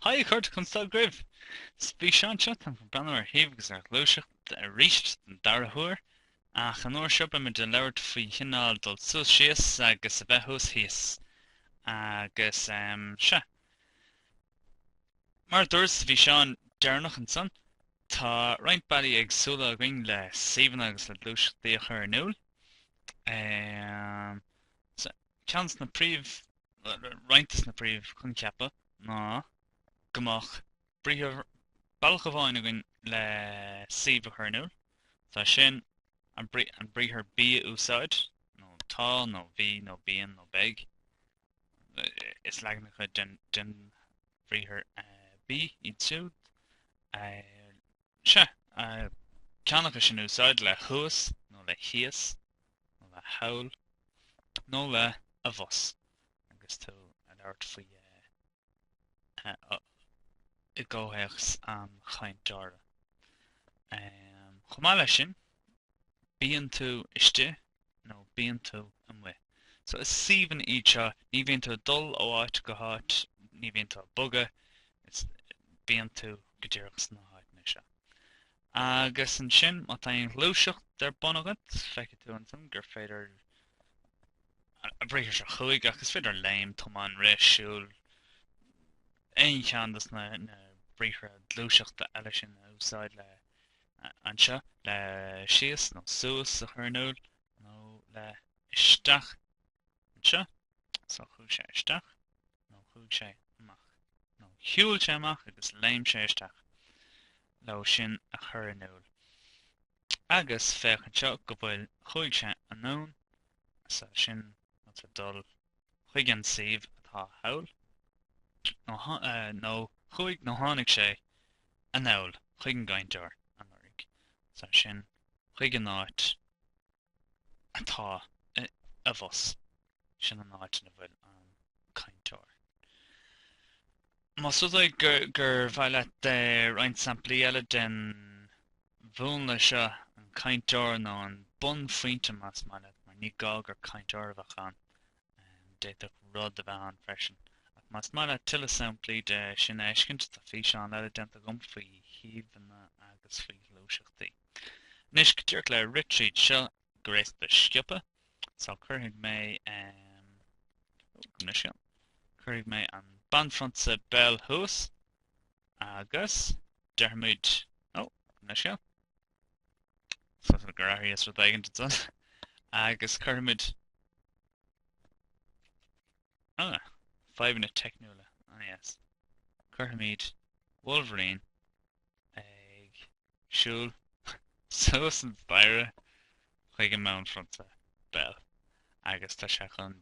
Haigh, a chairde conas tá agaibh? Sa bhfíseán seo, táim chun breathnú ar shuíomh agus ar ghluaiseacht arís den dara huair, ach an uair seo beidh muid ag labhairt faoi chineál dul suas síos agus a bheith thuas thíos. Agus em. sea. Mar a dúras sa bhfíseán deireanach ansan, tá roinnt bealaí éagsúla againn le suíomhanna agus le gluaiseachtaí a chur in iúl. Em. sea. Ceann de na príomh, roinnt de na príomh choincheapa ná go mbeadh, briathar, bealach amháin againn le suíomh a chur in iúl, is é sin an briathar bí a úsáid, nó tá, nó bhí, nó bíonn, nó beidh. Is leaganacha den bhriathar bí iad siúd. Sea, ceann acu sin a úsáid le thuas nó le thíos nó le thall nó le abhus agus tú ag labhairt faoi i gcomhthéacs an chainteora. Chomh maith leis sin, bíonn tú istigh nó bíonn tú amuigh. So is suíomhanna iad seo, ní bhíonn tú ag dul ó áit go háit, ní bhíonn tú ag bogadh, is bíonn tú go díreach sna háiteanna seo. Agus ansin má tá aon ghluaiseacht ar bun agat, feicfidh tú ansin gur féidir an briathar seo chuaigh ach is féidir léim, tomáin, rith, siúl, aon cheann dos na, na briathra gluaiseachta eile sin a úsáid le anseo le síos nó suas a chur in iúl nó le isteach anseo so chuaigh sé isteach nó chuaigh sé amach nó shiúil sé amach agus léim sé isteach leo sin a chur in iúl. Agus féach anseo go bhfuil chuaigh sé anonn, is é sin dul chuig an suíomh atá thall, nó chuaigh nó tháinig sé anall chuig an gcainteoir an uair úd, is é sin, chuig an áit atá abhus, sin an áit ina bhfuil an cainteoir. Más rud é gur mhaith leat roinnt samplaí eile den mhúnla seo an chainteora nó an bunphointe más maith leat, mar ní gá gur cainteoir a bheadh ann, d'fhéadfadh rud a bheith ann freisin. Ach más maith leat tuilleadh samplaí de sin a fheiscint, tá físeán eile déanta agam faoi shuíomhanna agus faoi ghluaiseachtaí. Anois, go díreach le rith tríd seo go réasúnta sciobtha, so cuirfidh mé, em. Ó, anois ann. Cuirfidh mé an banphrionsa Belle thuas. Agus déarfaimid, Ó, ní seo go fóill, gur athraíos rud éigin ansan. Agus cuirfimid, Ó, fadhbanna teicniúla, ah yes. Cuirfimid Wolverine ag siúl suas an staighre chuig an mbanphrionsa Bell, agus tá sé chun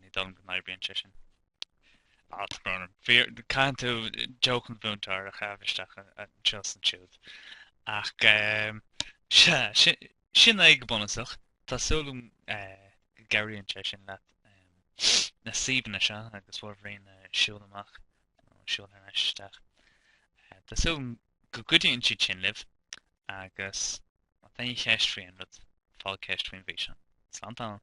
Ní dóigh liom go n-oibríonn sé sin. Alt ghránna. Fear, caitheann tú jóc an mhúinteoir a chaitheamh isteach anseo is ansiúd. Ach ehm, sea, sin, sin é go bunúsach. Tá súil agam go gcabhraíonn sé sin leat ehm, na suíomhanna seo agus Wolverine ag siúl amach, nó ag siúl thar n-ais isteach. Eh, Tá súil agam go gcuidíonn siad sin libh agus Má tá aon cheist faoi aon rud, fág ceist faoin bhfíseán. Slán tamall!